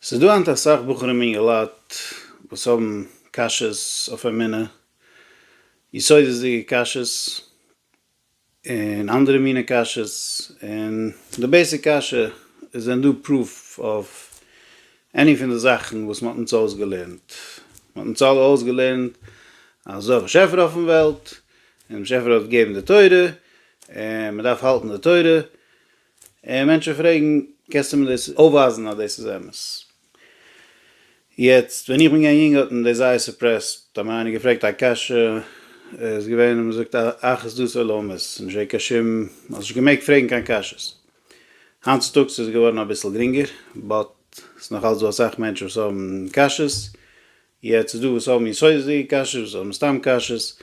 ס'איז דא היינט אסאך בחורים און יולדות וואס האבן קשיות אויף אמונה, יסודות'דיגע קשיות, און אנדערע מיני קשיות, און די בעיסיק קשיא איז ווען דא פרוף אויף עני פון די זאכן וואס מ'האט אונז אויסגעלערנט. מ'האט אונז אלע אויסגעלערנט אז ס'דא א באשעפער אויפן וועלט, און דער באשעפער האט געגעבן די תורה, און מ'דארף האלטן די תורה, און מענטשן פרעגן, קענסטו מיר דאס אויפווייזן אז דאס איז אמת? יעצט ווען איך בין געווען יונג האט מען דאס זייער סופרעסט, האט מיר איינער געפרעגט א קשיא איז געווען מען זאגט אחוז דעות עולמות, נישט געווען קיין שום, מען האט נישט געמעגט פרעגן קיין קשיות. היינט צוטאגס איז עס געווארן אביסל גרינגער, באט ס'איז נאך אלץ דא אסאך מענטשן וואס האבן קשיות, יעצט איז דא וואס האבן יסודות'דיגע קשיות, וואס האבן סתם קשיות,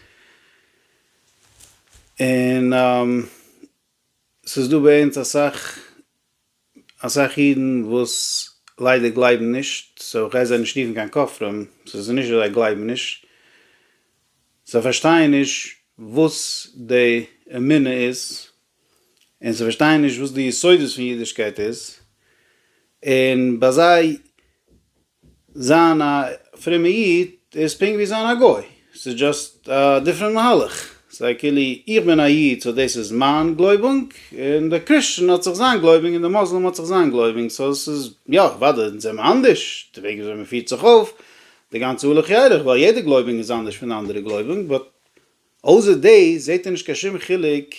און ס'איז דא ביי אונז אסאך אסאך אידן וואס ליידער גלייבן נישט, סאו כ'גיי זיי נישט רופן קיין כופרים, ס'איז נישט אז זיי גלייבן נישט, זיי פארשטייען נישט וואס די אמונה איז, און זיי פארשטייען נישט וואס די יסודות פון אידישקייט איז, און ביי זיי זיין א פרומע איד איז פונקט ווי זיין א גוי, ס'איז דזשאסט א דיפרענט מהלך, ס'איז כאילו איך בין א איד סאו דאס איז מיין גלויבונג, און דער קריסטשען האט זיך זיין גלויבונג און דער מוסלים האט זיך זיין גלויבונג, סאו ס'איז יא אוודאי אונז זעמער אנדערש, די וועג וויאזוי מ'פירט זיך אויף, די גאנצע הלוך ילך, ווייל יעדע גלויבונג איז אנדערש פון די אנדערע גלויבונג, באט אויסער דאס זעט ער נישט קיין שום חילוק,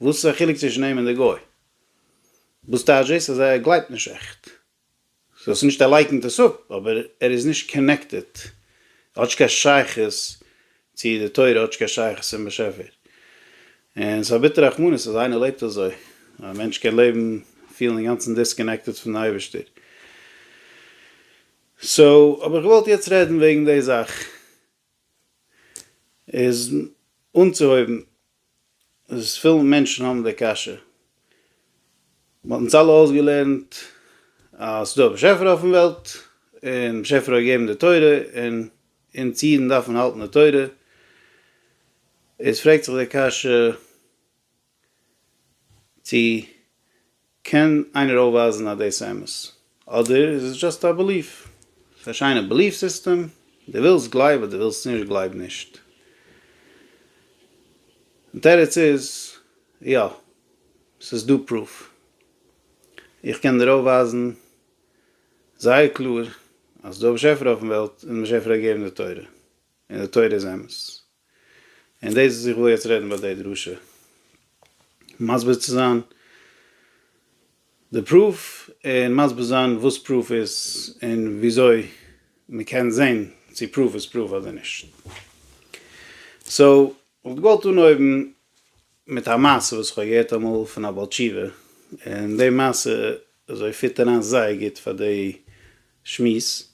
וואס איז א חילוק צווישן אים און די גוי? וואס טייטש דאס אז ער גלייבט נישט עכט? זי האט נישט ער לייקנט עס אפ אבער ער איז נישט קאנעקטעד ער האט נישט קיין שייכות צו די תורה ער האט נישט קיין שייכות צום באשעפער און ס'איז א ביטערע רחמנות אז איינער לעבט אזוי א מענטש קען לעבן פילן אינגאנצן דיסקאנעקטעד פון די אייבערשטער סאו האב איך געוואלט יעצט רעדן וועגן די זאך. איז אנצוהויבן איז פיל מענטשן האבן די קשיא מ'האט אונז אלע אויסגעלערנט אז ס'דא א באשעפער אויפן וועלט און באשעפער האט געגעבן די תורה און אונז אידן דארפן האלטן די תורה איז פרעגט זיך די קשיא צו קען איינער אויפווייזן אז דאס איז אמת? אדער איז עס דשאסט א בעליף? ס'איז א שיינע בעליף סיסטעם, דו ווילסט גלייב אדער ווילסט נישט גלייב נישט. די תירוץ איז, יא, ס'איז דא פרוף. איך קען דיר אויפווייזן זייער קלאר אז ס'איז דא א באשעפער אויפן וועלט און א באשעפער א געבער אין די תורה. און די תורה איז אמת. און דאס וואס איך וויל יעצט רעדן ביי די דרשה, מסביר צו זיין די פרוף, און מסביר זיין וואס פרוף איז, און וויאזוי מען קען זען צו פרוף איז פרוף אדער נישט. סאו, איך וואלט געוואלט אנהויבן מיט א מעשה וואס איך האב געהערט אמאל פון א בעל תשובה, און די מעשה אזוי פיט אריין זייער גוט פאר די שמועס,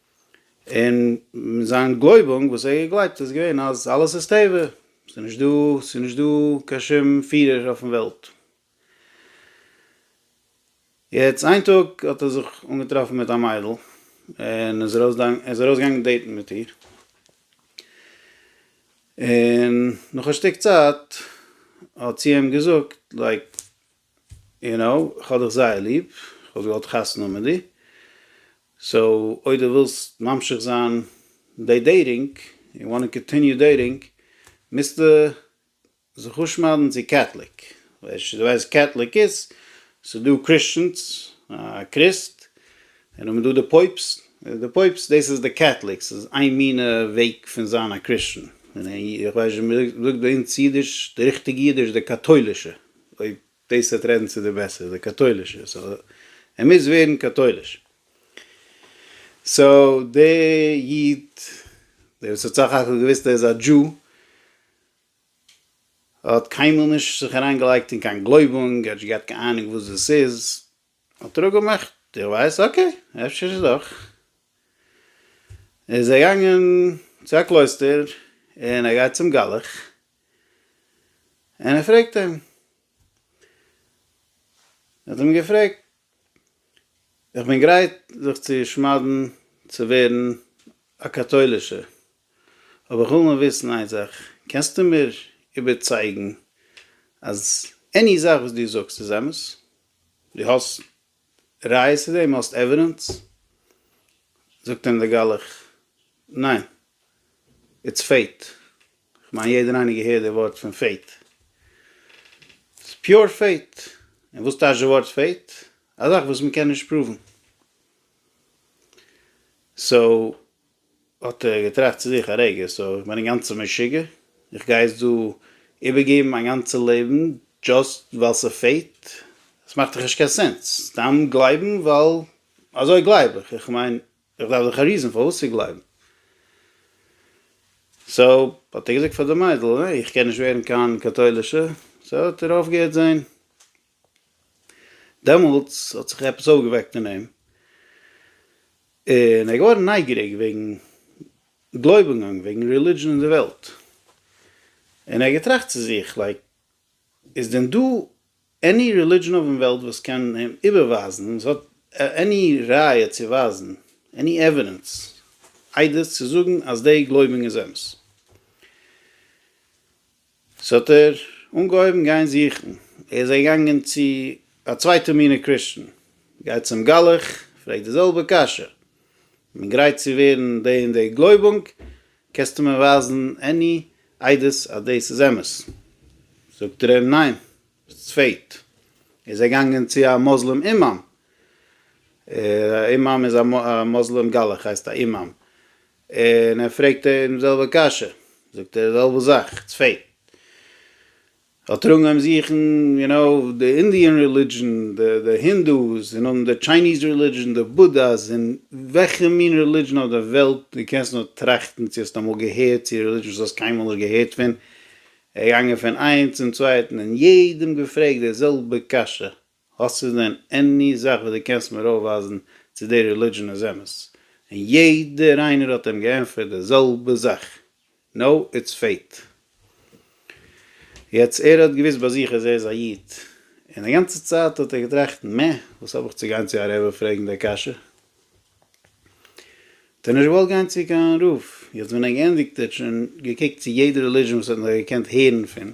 און זיין גלויבונג וואס ער האט געגלייבט איז געווען אז אלעס איז טבע, ס'איז נישט דא, ס'איז נישט דא קיין שום פירער אויפן וועלט. יעצט איין טאג האט ער זיך אנגעטראפן מיט א מיידל, און איז ארויס ער איז ארויס געגאנגען דעיטן מיט איר, און נאך א שטיק צייט האט זי אים געזאגט לייק. יו נאו, כ'האב דיך זייער ליב, כ'וואלט געוואלט חתונה מיט דיר, סאו אויב דו ווילסט ממשיך זיין די דעיטינג, יו וואנט טו קאנטיניו דעיטינג, מוזטו זיך אפשמד'ן צו קעטליק, ווייל דו ווייסט וואס קעטליק איז, ס'דא קריסטשענס, א קריסט, און האבן דא די פויבסט, די פויבסט דאס איז די קעטליק, ס'איז איין מינע וועג פון זיין א קריסטשען, און איך ווייס נישט ווי מ'זאגט ביי אונז אידיש, די ריכטיגע אידיש, די קאטוילישע, אויב דאס וועט רעדן צו די בעסער די קאטוילישע סאו ער מוז ווערן קאטויליש. סאו די איד דער וואס האט סך הכל געוויסט ער איז א דזשו האט קיינמאל נישט זיך אריין געלייגט אין קיין גלויבונג ער האט נישט געהאט קיין אהנונג וואס דאס איז האט ער אפגעמאכט איך ווייס אקעי אפשר איז דאך איז ער געגאנגען צו א קלויסטער און ער גייט צום גלח. און ער פרעגט אים, ער האט אים געפרעגט, איך בין גרייט זיך צו שמד'ן צו ווערן א קאטוילישער, אבער איך וויל נאר וויסן איין זאך, קענסטו מיר איבערצייגן אז עני זאך וואס דו זאגסט איז אמת? דו האסט ראיות צו דעם? האסט עווידענס? זאגט אים דער גלח, ניין, איטס פעיט. כ'מיין יעדער איינער געהערט די ווארט פון פעיט. ס'איז פיור פעיט. און וואס טייטש די ווארט פעיט? א זאך וואס מ'קען נישט פראוון. סאו, האט ער געטראכט צו זיך א רגע, סאו, כ'בין אינגאנצן משוגע? איך גיי יעצט דא איבערגעבן מיין גאנצע לעבן דשאסט ווייל ס'פעיט? ס'מאכט דאך נישט קיין סענס. סתם גלייבן ווייל אזוי גלייב איך. כ'מיין, איך דארף דאך א ריזען פארוואס צו גלייבן. סאו האט ער געזאגט פאר די מיידל, העי איך קען נישט ווערן קיין קאטוילישע, סאו האט ער אויפגעהערט זעהן. דעמאלטס האט זיך עפעס אויפגעוועקט אין אים, און ער איז געווארן נייגעריג וועגן גלויבונגען, וועגן רעלידזשען אין די וועלט, און ער האט געטראכט צו זיך, לייק איז דען דא עני רעלידשען אויפן וועלט וואס קען איבערווייזן, וואס האט עני ראיה צו ווייזן, עני עווידענס, עדות צו זאגן אז די גלויבונג איז אמת. סאו האט ער אנגעהויבן גיין זוכן, ער איז געגאנגען צו א צווייטע מינע קריסטן, גייט צום גלח, פרעגט די זעלבע קשיא, מען גרייט צו ווערן די און די גלויבונג, קענסטו מיר ווייזן עני עדות אז דאס איז אמת? זאגט ער אים ניין, ביסט צפעט, ער איז געגאנגען צו א מוסלים אימאם, א אימאם איז א מוסלים גלח הייסט א אימאם, און ער פרעגט אים די זעלבע קשיא, זאגט ער די זעלבע זאך, צפעט. זאל טראגן אויב זוכן יו נאו די אינדיען רעלידזשען די די הינדוס און אן די טשייניז רעלידזשען די בודהאס און וועלכע מין רעלידזשען אויף די וועלט די קענסט נאר טראכטן צו האסט אמאל געהערט צו רעלידזשען וואס האסט קיינמאל נישט געהערט פון געגאנגען פון איינס צום צווייטן און יעדעם געפרעגט די זעלבע קשיא האסטו דען עני זאך וואס דו קענסט מיר אויפווייזן צו די רעלידזשען איז אמת? און יעדער איינער האט אים געענטפערט די זעלבע זאך, נאו איטס פעיט. יעצט ער האט געוויסט ביי זיך אז ער איז א איד, און די גאנצע צייט האט ער געטראכט מע, וואס האב איך צו גיין צו א רעבע פרעגן די קשיא? האט ער נישט געוואלט גיין צו קיין רב, יעצט ווען ער געענדיגט ער האט שוין געקוקט צו יעדע רעלידזשען וואס ער האט נאר געקענט הערן פון.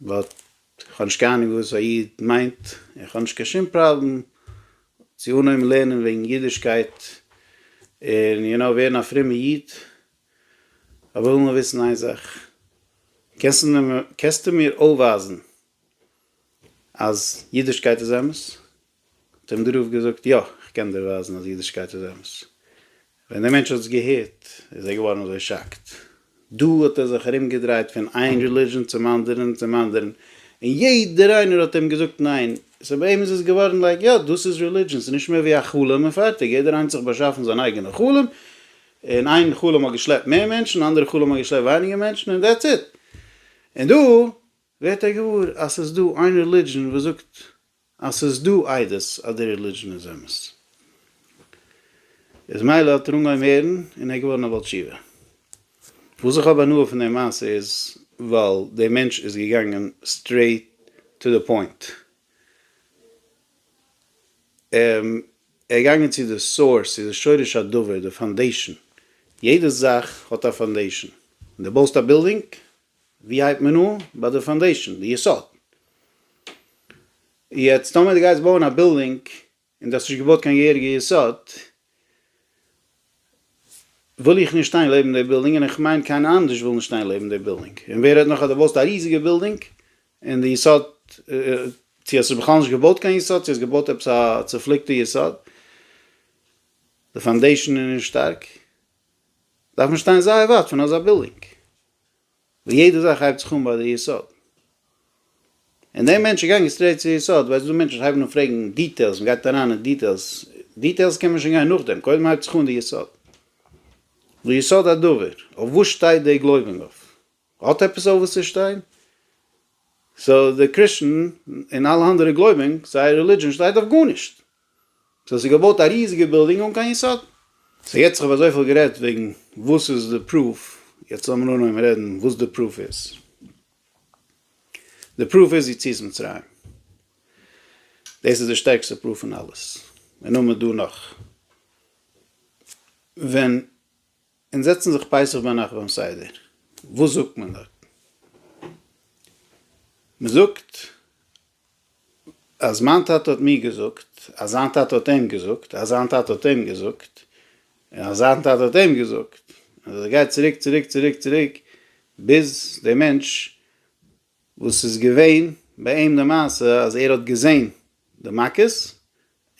באט איך האב נישט קיין אנונג וואס א איד מיינט, און כ'האב נישט קיין שום פראבלעם צו אנהויבן לערנען וועגן אידישקייט און יו נאו ווערן א פרומע איד, אבער איך וויל נאר וויסן איין זאך, קענסטו מיר אויפווייזן אז אידישקייט איז אמת? האט אים דער רב געזאגט, יא, איך קען דיר ווייזן אז אידישקייט איז אמת. ווען דער מענטש האט עס געהערט, איז ער געווארן אזוי שאקט. דא האט ער זיך ארומגעדרייט פון איין רעליזשען צום אנדערן, צום אנדערן, און יעדער איינער האט אים געזאגט ניין. סא ביי אים איז עס געווארן לייק, יא, דאס איז רעליזשען, ס'איז נישט מער ווי א חלום און פארטיג. יעדער איינס האט זיך באשאפן זיין אייגענע חלום, און איין חלום האט געשלעפט מער מענטשן, און אנדערע חלום האט געשלעפט ווייניגער מענטשן, און דעטס איט. און דא ווערט ער געוואר אז ס'איז דא איין רעליזשען וואס זאגט אז ס'איז דא עדות אז די רעלידזשען איז אמת. איז מילא האט ער אנגעהויבן הערן און ער איז געווארן א בעל תשובה. וואס איך האב הנאה פון די מעשה איז ווייל די מענטש איז געגאנגען סטרעיט טו די פוינט. ער איז געגאנגען צו די סאורס, צו די שורש הדבר, די פאנדעישאן. יעדע זאך האט א פאנדעישאן. ווען דו בויסט א בילדינג, ווי הייבט מען אן? ביי די פאנדעישאן, די יסוד. יעצט טאמער דו גייסט בויען א בילדינג און דו האסט נישט געבויט קיין געהעריגע יסוד, וויל איך נישט שטיין לעבן די בילדינג און איך מיין קיינער אנדערש וויל נישט שטיין לעבן די בילדינג. און ווער רעדט נאך אז דו בויסט א ריזיגע בילדינג און די יסוד, צו האסט עס בכלל נישט געבויט קיין יסוד צו האסט געבויט עפעס א צופליקטע יסוד, די פאנדעישאן איז נישט שטארק, דארף מען שטיין זייער ווייט פון אזא בילדינג. וואו יעדע זאך הייבט זיך אן ביי די יסוד. און דער מענטש איז געגאנגען סטרעיט צו יסוד, ווייל ס'דא מענטשן וואס הייבן אן פרעגן דיטעילס, מען גייט אריין אין דיטעילס, דיטעילס קען מען שוין גיין נאכדעם, קודם הייבט זיך אן די יסוד. ויסוד הדבר, אויף וואס שטייט די גלויבונג אויף? האט עפעס אויף וואס צו שטיין? סאו די קריסטן און אלע אנדערע גלויבונג, זייער רעלידזשען שטייט אויף גארנישט. סאו ס'איז געבויט א ריזיגע בילדינג אן קיין יסוד. סאו יעצט כ'האב אזויפיל גערעדט וועגן וואס איז די פרוף, יעצט לאמיר אנהויבן רעדן וואס די פרוף איז. די פרוף איז יציאת מצרים. דאס איז די שטערקסטע פרוף פון אלעס. און נאר מיט דא נאך. ווען און זעצן זיך פסח ביינאכט ביים סדר, וואס זאגט מען דארט? מען זאגט אז מיין טאטע האט מיר געזאגט, אז זיין טאטע האט אים געזאגט, אז זיין טאטע האט אים געזאגט, און אז זיין טאטע האט אים געזאגט, און אזוי גייט צוריק צוריק צוריק צוריק, ביז דער מענטש וואס איז געווען ביי אים די מעשה אז ער האט געזען די מכות,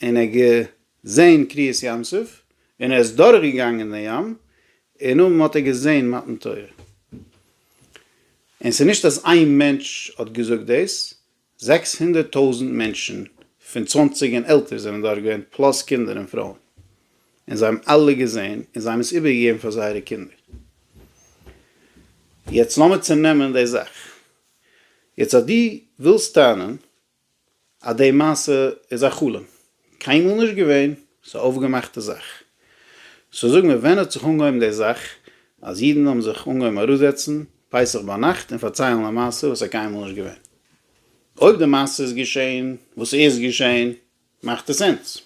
און ער האט געזעהן קריעת ים סוף, און ער איז דורך געגאנגען דעם ים, און אויבן האט ער געזעהן מתן תורה. און ס'איז נישט אז איין מענטש האט געזאגט דאס, זעקס הונדערט טויזנט מענטשן פון צוואנציג און עלטער זענען דארט געווען, פלאס קינדער און פרויען, און זיי האבן אלע געזעהן, און זיי האבן עס איבער געגעבן פאר זייערע קינדער. יעצט לאמיר צונעמען די זאך. יעצט אז דו ווילסט טענה'ן אז די מעשה איז א חלום, קיינמאל נישט געווען, ס'איז א אויפגעמאכטע זאך. סאו זאג מיר ווען האט זיך אנגעהויבן די זאך אז אידן האבן זיך אנגעהויבן אראפזעצן פסח ביינאכט און פארציילן א מעשה וואס איז קיינמאל נישט געווען? אויב די מעשה איז געשען, וואס איז געשען? מאכט עס סענס?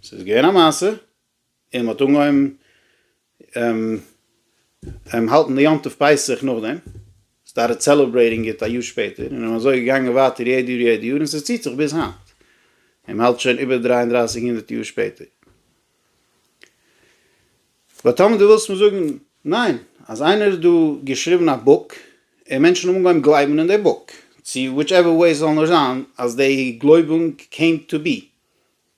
ס'איז געווען א מעשה, און מען האט אנגעהויבן האלטן די יום טוב פסח נאכדעם, סטארטעד סעלעברעיטינג איט א יאר שפעטער, און אזוי געגאנגען ווייטער יעדע יאר יעדע יאר, און ס'ציט זיך ביז היינט, און מען האלט שוין איבער דרײַ און דרײַסיק הונדערט יאר שפעטער. באט טאמער דו ווילסט מיר זאגן, ניין, אז איינער האט דא געשריבן א בוק, און מענטשן האבן אנגעהויבן גלייבן אין די בוק, צו וויטשעווער וועי ס'זאל נאר זיין, אז די גלויבונג קעים טו בי,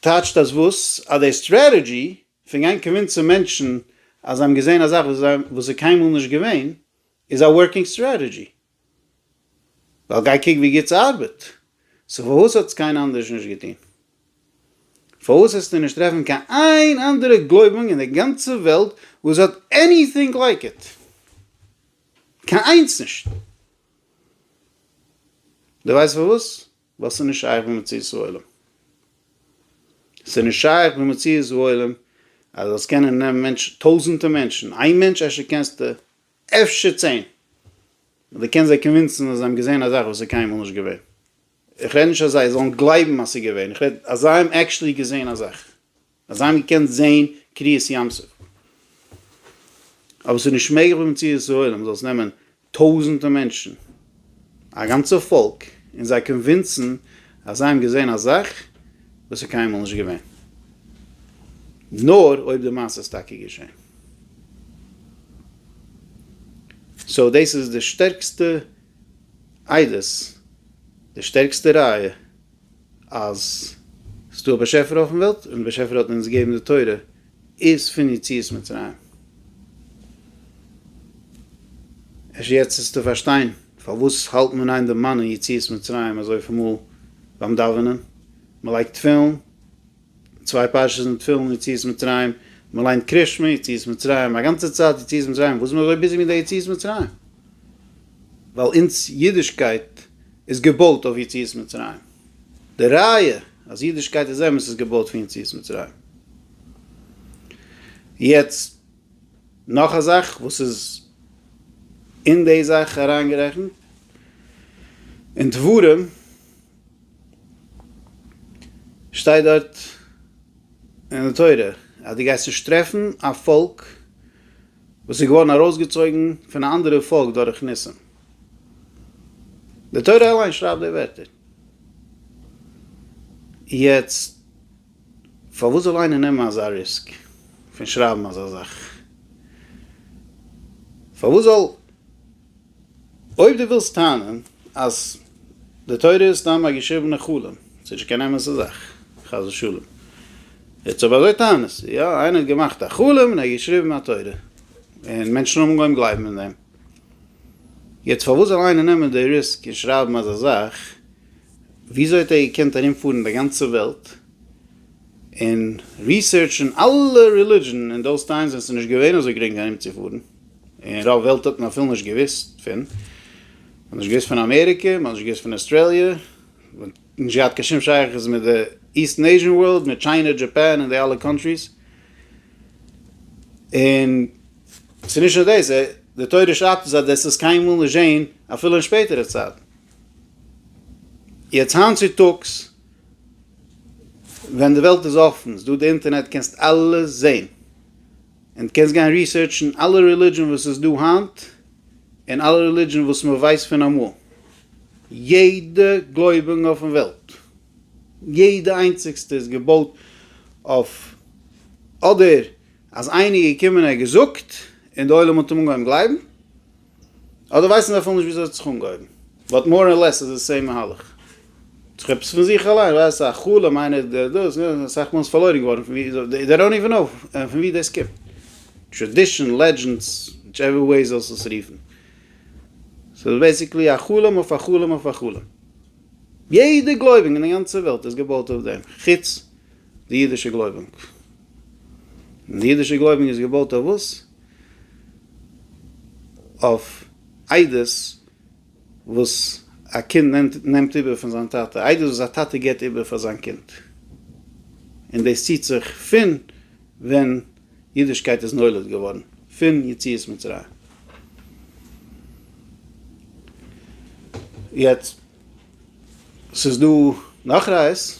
טייטשט אז וואס? אז די סטרעטעדזשי פון גיין קאנווינסען מענטשן אז זיי האבן געזעהן א זאך וואס איז קיינמאל נישט געווען איז א ווארקינג סטרעטעדזשי? ווייל גיי קוק ווי גוט ס'ארבעט. סאו פארוואס האטס קיינער אנדערש נישט געטון? פארוואס העסטו נישט טרעפן קיין איין אנדערע גלויבונג אין די גאנצע וועלט וואס האט עניטינג לייק איט? קיין איינס נישט! דו ווייסט פארוואס? וואס איז נישט שייך במציאות העולם? ס'איז נישט שייך במציאות העולם אז זאלסט קענען נעמען מענטשן, טויזענטע מענטשן, איין מענטש אפשר קענסטו, אפשר צען, און דו קענסט זיי קאנווינסן אז זיי האבן געזען א זאך וואס איז קיינמאל נישט געווען. איך רעד נישט אז זיי זאלן גלייבן אז ס'איז געווען, איך רעד אז זיי האבן עקשטלי געזען א זאך. אז זיי האבן געקענט זעהן קריעת ים סוף. אבער עס איז נישט מעגליך ביי מציאות העולם זאל עס נעמען טויזענטע מענטשן, א גאנצע פאלק, און זיי קאנווינסן אז זיי האבן געזעהן א זאך וואס איז קיינמאל נישט געווען. נאר אויב די מעשה איז טאקע געשעהן. סאו דאס איז די שטערקסטע עדות, די שטערקסטע ראיה. אז ס'איז דא א באשעפער אויפן וועלט, און די באשעפער האט אונז געגעבן די תורה, איז פון יציאת מצרים. אפשר יעצט וועסטו פארשטיין פארוואס האלט מען איין די מנין יציאת מצרים אזויפיל מאל ביים דאווענען, מ'לייגט תפילין, צוויי פרשות אין תפילין, יציאת מצרים, מען ליינט קרית שמע, יציאת מצרים, א גאנצע צייט יציאת מצרים, וואס איז מען אזוי ביזי מיט די יציאת מצרים? ווייל אונז אידישקייט איז געבויט אויף יציאת מצרים, די ראיה אז אידישקייט איז אמת איז געבויט פון יציאת מצרים. יעצט נאך א זאך וואס איז אין די זאך אריינגערעכנט, אין דברים שטייט דארט אין די תורה אז דו גייסט נישט טרעפן א פאלק וואס איז געווארן ארויסגעצויגן פון א אנדערע פאלק דורך ניסים. די תורה אליין שרייבט די ווערטער. יעצט פארוואס זאל איינער נעמען אזא ריסק פון שרייבן אזא זאך? פארוואס זאל אויב דו ווילסט טענה'ן אז די תורה איז סתם א געשריבענע חלום, ס'איז נישט קיין אמת'ע זאך, חס ושלום. יעצט אויב אזוי טענה'סטו, יא, איינער האט געמאכט א חלום און ער האט געשריבן א תורה, און מענטשן האבן אנגעהויבן גלייבן אין דעם. יעצט פארוואס זאל איינער נעמען די ריסק און שרייבן אזא זאך? וויאזוי האט ער געקענט ארומפארן די גאנצע וועלט און ריסערטשן אלע רעלידזשן אין דאוס טיימס ווען ס'איז נישט געווען אזוי גרינג ארומצופארן? און רוב וועלט האט מען אפילו נישט געוויסט פון, מען האט נישט געוויסט פון אמעריקע, מען האט נישט געוויסט פון אסטרעליע, מען האט נישט געהאט קיין שום שייכות מיט די איסטן עיזשען ווארלד, מיט טשיינע, דזשאפאן און די אלע קאנטריס, און ס'איז נישט נאר דאס, די תורה שרייבט אונז אז דאס איז קיינמאל נישט געשען אפילו אין שפעטערע צייטן. יעצט היינט צו טאגס ווען די וועלט איז אפן, ס'איז דא די אינטערנעט, קענסט אלעס זען, און דו קענסט גיין ריסערטשן אלע רעלידזשען וואס איז דא היינט, און אלע רעלידזשען וואס מען ווייסט פון אמאל, יעדע גלויבונג אויפן וועלט, יעדע איינציגסטע איז געבויט אויף אדער אז איינער איז געקומען און ער האט געזאגט און די עולם האט אים אנגעהויבן גלייבן, אדער ווייסן זיי אפילו נישט וויאזוי זיך אנגעהויבן. באט מאר און לעס איז די סעים מהלך. ס'דאך עפעס פון זיך אליין, ווייסט א חלום איינער דער דאס, אסאך מאל איז פארלוירן געווארן פון ווי, דעי דאנט איווען נאו פון ווי דאס קומט. טראדישן, לעדזשענדס, וויטש עווער וועי זאלסט עס רופן. ס'איז בעיסיקלי א חלום אויף א חלום אויף א חלום. יעדע גלויבונג אין די גאנצע וועלט איז געבויט אויף דעם, חוץ די אידישע גלויבונג. און די אידישע גלויבונג איז געבויט אויף וואס? אויף איידעס וואס א קינד נעמט נעמט איבער פון זיין טאטע, איידעס וואס א טאטע גיבט איבער פאר זיין קינד, און דאס ציט זיך פון ווען אידישקייט איז נולד געווארן, פון יציאת מצרים. יעצט, ס'איז דא נאך ראיות,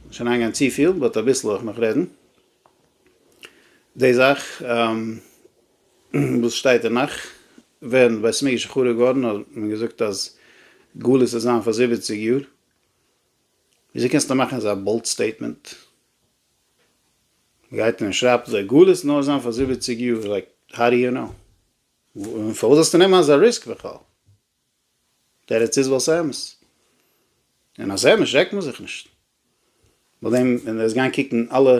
נישט אריינגיין צופיל, באט אביסל וועל איך נאך רעדן, די זאך וואס שטייט אין נאך ווען בית מקדש איז חרוב געווארן האט מען געזאגט אז גלות וועט זיין פאר זיבעציג יאר, וויאזוי קענסטו מאכן אזא באלד סטעיטמענט? מען גייט און שרייבט אזוי גלות וועט נאר זיין פאר זיבעציג יאר, לייק האו דו יו נאו? און פארוואס זאלסטו נעמען אזא ריסק בכלל? תירוץ איז ווייל ס'אמת, און אז ס'אמת שרעקט מען זיך נישט. נאכדעם ווען ער איז געגאנגען קוקן אלע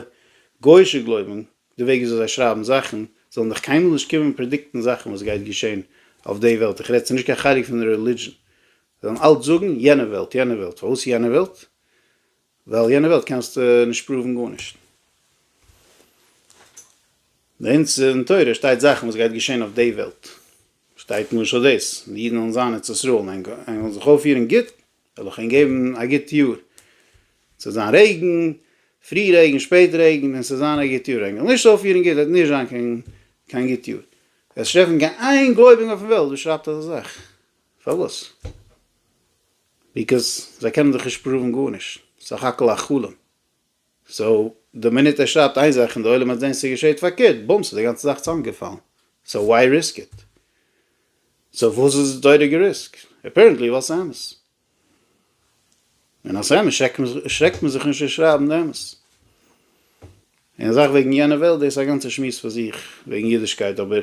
גויאישע גלויבונג די וועג וויאזוי זיי שרייבן זאכן זאלן דיך קיינמאל נישט קומען פרעדיקטן זאכן וואס גייט געשען אויף די וועלט איך רעד ס'איז נישט קיין חלק פון רעלידזשען זיי וועלן אלץ זאגן יענע וועלט יענע וועלט פארוואס יענע וועלט ווייל יענע וועלט קענסטו נישט פראוון גארנישט. ביי אונז אין תורה שטייט זאכן וואס גייט געשען אויף די וועלט שטייט למשל דאס די אידן וועלן זיין ארץ ישראל און זיך אויפפירן גוט וועל איך אים געבן א גוט יאר, ס'וועט זיין רעגן, פרי רעגן שפעט רעגן, און ס'וועט זיין א גוט יאר, ענק עס נישט אויפירן גוט וועט נישט זיין קיין קיין גוט יאר, וועסט נישט טרעפן קיין איין גלויביגן אויפן וועלט וואס שרייבט אזא זאך, פארוואס? ביקאוז זיי קענען זיך נישט פראוון גארנישט, סך הכל א חלום. סאו די מינוט ער שרייבט איין זאך און די עולם האט זעהן ס'געשעהט פארקערט, בומס איז די גאנצע זאך צאמגעפאלן, סאו וואי ריסק איט? סאו וואס איז די תורה געריסקט? אפערענטלי ווייל ס'איז אמת. און אז ס'איז אמת שרעקט מען זיך נישט צו שרייבן די אמת. און די זאך וועגן יענע וועלט דאס איז א גאנצע שמועס פאר זיך וועגן אידישקייט אבער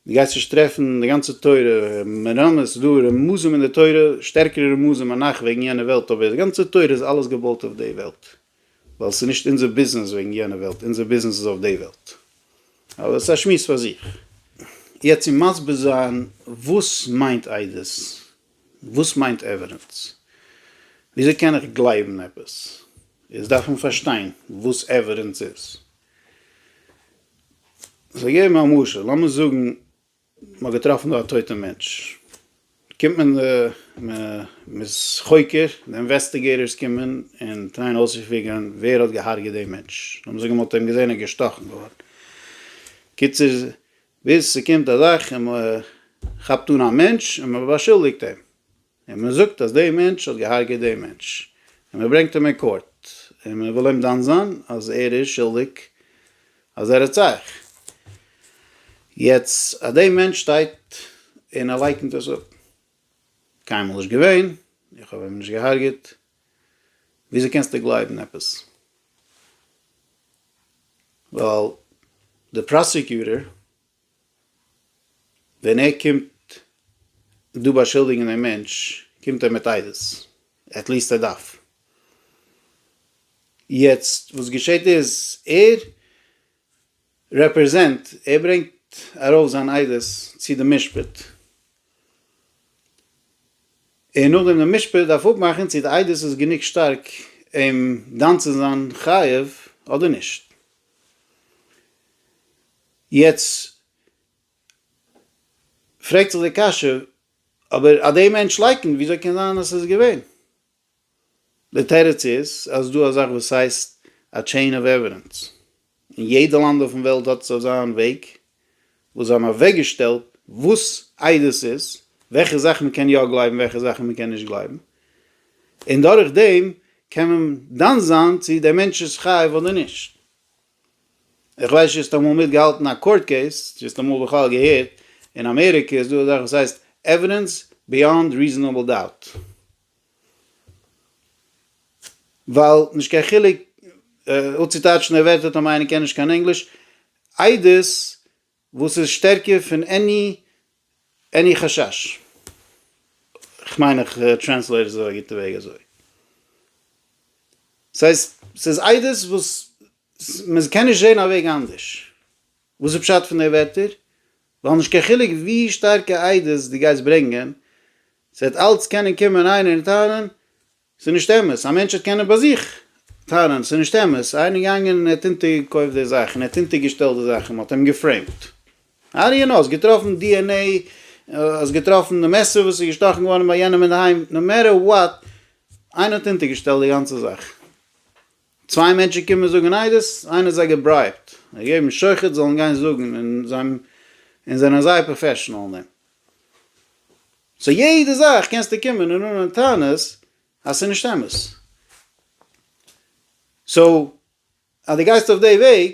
דו גייסט נישט טרעפן אין די גאנצע תורה מרמז, ס'איז דא רמזים אין די תורה, שטערקערע רמזים אנך וועגן יענע וועלט, אבער די גאנצע תורה איז אלעס געבויט אויף די וועלט, ווייל ס'איז נישט אונזער ביזנעס וועגן יענע וועלט, אונזער ביזנעס איז אויף די וועלט. אבער ס'איז א שמועס פאר זיך. יעצט צו מסביר זיין וואס מיינט עדות, וואס מיינט עווידענס, וויאזוי קען איך גלייבן עפעס, איז דארף מען פארשטיין וואס עווידענס איז. כ'וועל געבן א משל, לאמיר זאגן מ'האט געטראפן דא א טויטע מענטש, קומט מען די, מ'איז חוקר, די אינוועסטיגעיטארס קומען און טרייען אויסצופיגערן ווער האט געהארגעט דעם מענטש, לאמיר זאגן מ'האט אים געזען ער איז געשטאכן געווארן, קיצור ביז ס'קומט א זאך און מ'כאפט אן א מענטש און מ'באשולדיגט אים, און מען זאגט אז דער מענטש האט געהארגעט דעם מענטש, און מען ברענגט אים אין קאורט, און מען וויל אים דן זיין אז ער איז שולדיג אז ער האט זייך. יעצט אז דער מענטש שטייט און ער לייקנט עס אפ, קיינמאל נישט געווען, איך האב אים נישט געהארגעט, וויאזוי קענסטו גלייבן עפעס? ווייל די פראסיקיוטער ווען ער קומט דא באשולדיגן דעם מענטש קומט ער מיט עדות, עטליעסט ער דארף. יעצט וואס געשעהט איז, ער רעפרעזענט, ער ברענגט ארויף זיין עדות צו די משפט, און נאכדעם די משפט דארף אפמאכן צו די עדות איז גענוג שטארק אים דן צו זיין חייב אדער נישט. יעצט פרעגט זיך די קשיא, אבער אז די מענטש לייקענט וויאזוי קען זיין אז ס'איז געווען? די תירוץ איז אז ס'דא א זאך וואס הייסט א טשעין אוו עווידענס, און יעדע לאנד אויפן וועלט האט עס אויף זיין וועג וואס זיי האבן אוועקגעשטעלט וואס עדות איז, וועלכע זאכן מ'קען יא גלייבן און וועלכע זאכן מ'קען נישט גלייבן, און דורך דעם קען מען דן זיין צו דער מענטש איז חייב אדער נישט. איך ווייס נישט האסט אמאל מיטגעהאלטן א קאורט קעיס? צו האסט אמאל בכלל געהערט? אין אמעריקע איז דא אזאך וואס הייסט עווידענס ביאנד ריזענעבל דאוט. ווייל נישט קיין חילוק, אויב צוטייטשן די ווערטער טאמאר איינער קען נישט קיין ענגליש, עדות וואס איז שטערקער פון עני חשש? כ'מיין איך טרענסלעיט עס אויף א גוטע וועג אזוי. ס'הייסט, ס'איז עדות וואס מען קען נישט זען א וועג אנדערש. וואס איז פשט פון די ווערטער? ווייל נישט קיין חילוק ווי שטארקע עדות דו גייסט ברענגען, ס'וועט אלץ קענען קומען איינער און טענה'ן, ס'איז נישט אמת, א מענטש האט קענען ביי זיך טענה'ן, ס'איז נישט אמת, ס'איז איינער געגאנגען און ער האט אונטערגעקויפט די זאך און ער האט אונטערגעשטעלט די זאך און מ'האט אים געפרעימט. האו דו יו נאו? האסט געטראפן די ען עי? האסט געטראפן די מעסער וואס איז געשטאכן געווארן ביי יענעם אינדערהיים? נאו מעטער וואט, איינער האט אונטערגעשטעלט די גאנצע זאך. צוויי מענטשן קומען זאגן עדות, איינער האט זיי געברייבט, זיי געגעבן שוחד זאלן גיין זאגן און זיי און זענען זייער פראפעשענאל אין דעם. סאו יעדע זאך קענסטו קומען און אננעמען טענות אז ס'איז נישט אמת. סאו אז דו גייסט אויף די וועג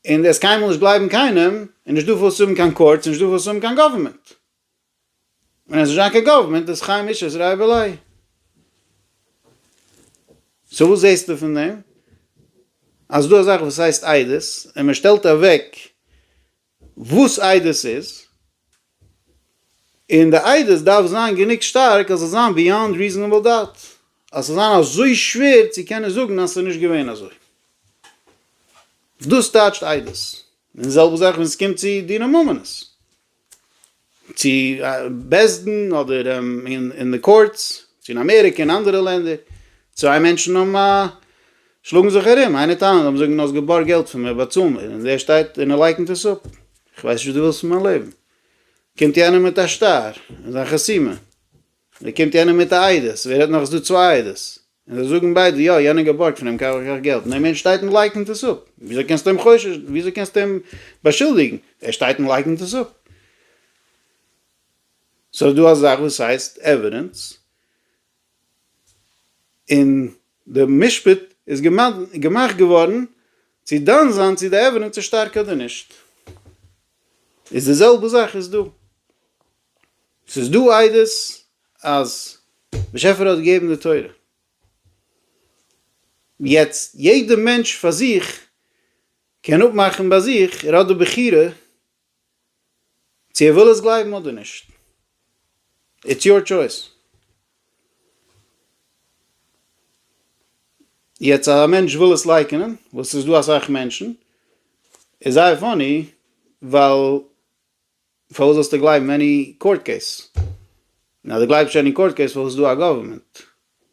און דו וועסט קיינמאל נישט גלייבן קיינעם, איז נישטא וואס צו האבן קיין קאורטס, נישטא וואס צו האבן קיין גאווערמענט. און עס וועט נישט זיין קיין גאווערמענט איז חיים אישר'ס רייבעליי. סאו וואס זעסטו פון דעם? אז ס'דא א זאך וואס הייסט עדות און מ'שטעלט אוועק וואס איידער עס איז, און די איידער דארף זיין גענוג שטארק אז עס זאל זיין ביאנד ריזענעבל דאוט, אז עס זאל זיין אזוי שווער צו קענען זאגן אז עס איז נישט געווען אזוי. דאס טייטשט איידערס, און די זעלבע זאך ווען עס קומט צו דיני ממונות. צו בית דין אדער אין די קאורטס, צו אין אמעריקע אין אנדערע לענדער, צוויי מענטשן האבן א שלאגן זיך ארום, איינער טענה'ט און זאגן האסט געבארגט געלט פון מיר באצאל מיר, און דער שטייט און ער לייקנט עס אפ, איך ווייס נישט וואס דו ווילסט פון מיין לעבן, קומט יענער מיט א שטר און זיין חסימה, און דא קומט יענער מיט א עדות, ווער רעדט נאך עס איז דא צוויי עדות, און זיי זאגן ביידע יא יענער האט געבארגט פון אים כך וכך געלט, און דער מענטש שטייט און לייקנט עס אפ, וויאזוי קענסטו אים חושש, וויאזוי קענסטו אים באשולדיגן, ער שטייט און לייקנט עס אפ. סאו ס'איז דא א זאך וואס הייסט עווידענס, און די משפט איז געמאכט געווארן צו דן זיין צו די עווידענס איז שטארק אדער נישט, איז די זעלבע זאך איז דא. ס'איז דא עדות אז באשעפער האט געגעבן די תורה. יעצט יעדע מענטש פאר זיך קען אפמאכן ביי זיך, ער האט די בחירה צו ער וויל עס גלייבן אדער נישט. איטס יור טשויס. יעצט אז א מענטש וויל עס לייקענען, וואס ס'איז דא אסאך מענטשן, איז זייער פאני, ווייל פארוואס זאלסטו גלייבן עני קאורט קעיס? און אז דו גלייבסט שוין אין קאורט קעיס פארוואס איז דא א גאווערמענט?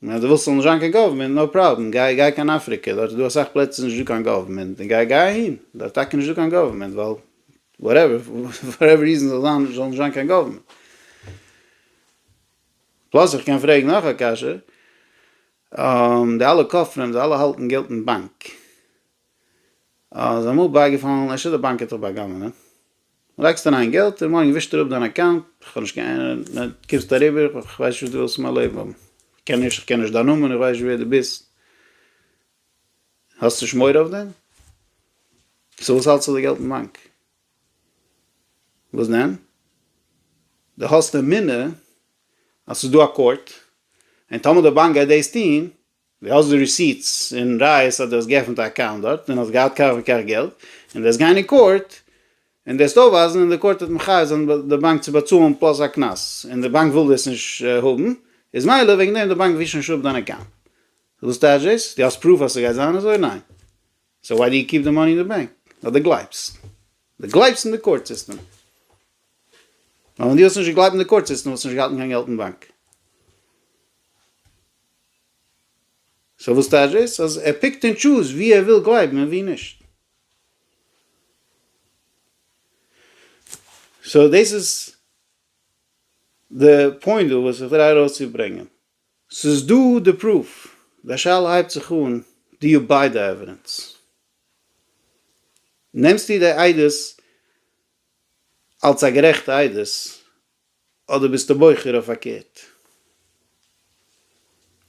און אז דו ווילסט ס'זאל נישט זיין קיין גאווערמענט נאו פראבלעם גיי גיי קיין אפריקע דארט איז דא אסאך פלעצער נישטא קיין גאווערמענט און גיי גיי אהין דארט טאקע נישטא קיין גאווערמענט ווייל וואטעווער פאר עווער ריזען זאל זיין זאל נישט זיין קיין גאווערמענט. פלאס איך קען פרעגן נאך א קשיא די אלע כופרים די אלע האלטן געלט אין באנק איז אמאל בייגעפאלן, אפשר די באנק האט דיך בא'גנב'נעט. לייגסט אריין געלט און מארגן ווישט ער אפ דיין אקאונט, איך האב נישט קיין אהנונג, דו קומסט אריבער, איך ווייס נישט וואס דו ווילסט פון מיין לעבן האבן, איך קען נישט, איך קען נישט דיין נאמען, איך ווייס נישט ווער דו ביסט, האסט נישט מורא אויף דעם? סאו וואס האלטסטו די געלט אין באנק? וואס דען? דו האסט אמונה אז ס'איז דא א קאורט, און טאמער די באנק גייט דאס טון, דו האסט די ריסיטס און ראיות אז דו האסט געעפנט א אקאונט דארט און האסט געהאט כך וכך געלט, און דו וועסט גיין אין קאורט און דאס אויפווייזן און די קאורט וועט מחייב זיין די באנק צו באצאלן פלאס א קנס, און די באנק וויל דאס נישט האבן, איז מילא וועגן דעם די באנק ווישט נישט אפ דיין אקאונט. וואס טייטש דאס? דו האסט פרוף אז ס'גייט זיין אזוי? ניין. סאו וואי דו יו קיפ די מאני אין די באנק? ווייל דו גלייבסט. דו גלייבסט אין די קאורט סיסטעם. ווייל ווען דו וואלסט נישט געגלייבט אין די קאורט סיסטעם וואלסטו נישט געהאלטן קיין געלט אין באנק. סאו וואס טייטש דאס? אז ער פיקט ענד טשוז ווי ער וויל גלייבן און ווי נישט? סאו דאס איז די פוינט דא וואס איך טריי ארויסצוברענגען. ס'איז דא די פרוף, די שאלה הייבט זיך אן, דו יו ביי די עווידענס? נעמסטו די עדות אלס א גערעכטע עדות אדער ביסטו בוחר אויף פארקערט?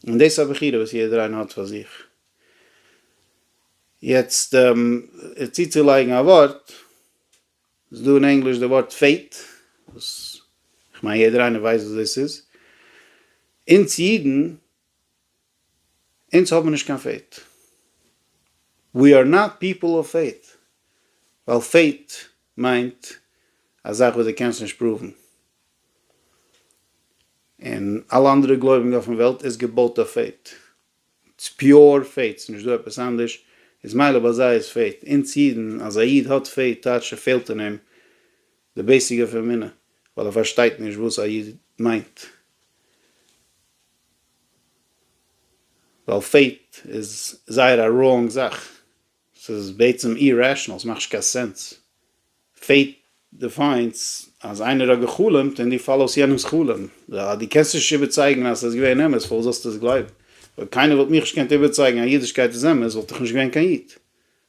און דאס איז א בחירה וואס יעדער איינער האט פאר זיך. יעצט צוצולייגן א ווארט, ס'איז דא אין ענגליש די ווארט פעיט, וואס כ'מיין יעדער איינער ווייסט וואס דאס איז. אונז אידן אונז האבן נישט קיין פעיט. ווי אר נאט פיפל אוו פעיט. ווייל פעיט מיינט א זאך וואס דו קענסט נישט פראוון. און אלע אנדערע גלויבונג אויפן וועלט איז געבויט אויף פעיט. ס'איז פיור פעיט. ס'איז נישט דא עפעס אנדערש. איז מילא ביי זיי איז פעיט. אונז אידן, אז א איד האט פעיט טייטש ס'פעלט אין אים די בעיסיק אויף אמונה ווייל ער פארשטייט נישט וואס א יוד מיינט ווייל פעיט איז זייער א ראונג זאך ס'איז בעצם אירעשענעל ס'מאכט נישט קיין סענס פעיט דיפיינס אז איינער האט געחלומט און דו פאלאוסט יענעמס חלום אז דו קענסט נישט איבערצייגן אז ס'איז געווען אמת פארוואס זאלסטו עס גלייבן אויב קיינער וואלט מיך נישט געקענט איבערצייגן אז אידישקייט איז אמת וואלט איך נישט געווען קיין יוד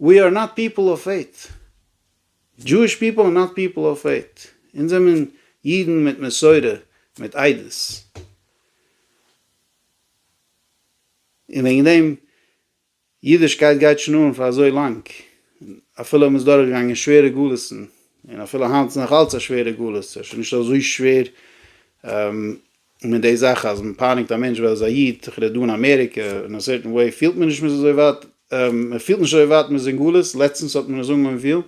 ווי אר נאט פיפל אוו פעיט, דזשואיש פיפל אר נאט פיפל אוו פעיט, אונז זעמען אידן מיט מסורה מיט עדות, און וועגן דעם אידישקייט גייט שוין אן פאר אזוי לאנג, אפילו מען איז דורך געגאנגען שווערע גלות'ן, און אפילו היינט איז נאך אלץ א שווערע גלות, ס'איז שוין נישט אזוי שווער און מיט די זאך אז מען פייניגט א מענטש ווייל ער איז א איד, תיכף רעדט דא אין אמעריקע, אין א סערטען וועי פילט מען נישט מען איז אזוי ווייט, מען פילט נישט אזוי ווייט מען איז אין גלות, לעצטענס האט מען עס אנגעהויבן פילן,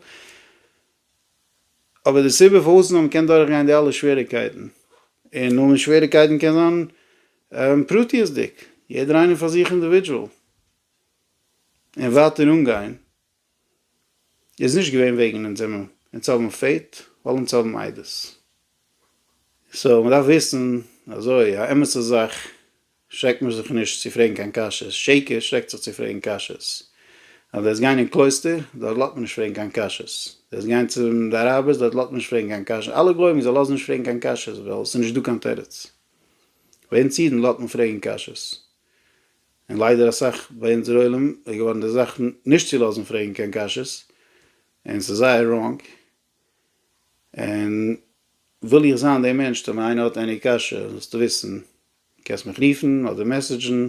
אבער די סיבה פארוואס נאר מען קען דורך גיין די אלע שוועריקייטן, און נאר די שוועריקייטן קען זיין פרטיות'דיג, יעדער איינער פאר זיך אינדיווידזשועל, און ווייטער אנגיין. איז נישט געווען וועגן אונז זעמער אונז האבן פעט ווייל אונז האבן מיידות סאו מען דארף וויסן אזוי א אמת'ע זאך שרעקט מען זיך נישט צו פרעגן קיין קשיות שקר שרעקט זיך צו פרעגן קשיות אז דו וועסט גיין אין קלויסטער דארט לאזט מען נישט פרעגן קיין קשיות דו וועסט גיין צום די אראבערס דארט לאזט מען נישט פרעגן קיין קשיות אלע גוים זיי לאזן נישט פרעגן קיין קשיות ווייל עס איז נישט דא קיין תירוץ ביי אונז אידן לאזט מען פרעגן קשיות. און ליידער אסאך ביי אונזער עולם איז געווארן די זאך נישט צו לאזן פרעגן קיין קשיות, און ס'איז זייער ראנג, און וויל איך זיין דער מענטש טאמער איינער האט עני קשיא זאלסטו וויסן קענסט מיך רופן אדער מעסעדזשן,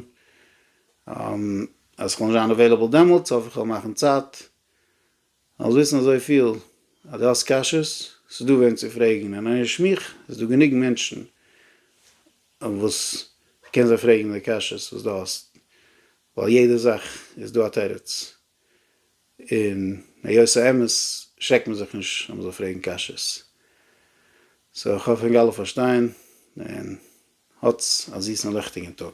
אז כ'וועל נישט זיין אוועילעבל דעמאלטס האף איך כ'וועל מאכן צייט זאלסט וויסן אזויפיל אז דו האסט קשיות, ס'איז דא וועם צו פרעגן, און אויך מיך, איז דא גענוג מענטשן וואס איך קען זיי פרעגן די קשיות וואס דו האסט, ווייל יעדע זאך איז דא א תירוץ, און היות האמת שעקט מען זיך נישט אז מ'זאל פרעגן קשיות. סאו איך האף ענק אלע פארשטייען, און האטס א זיסן און ליכטיגן טאג.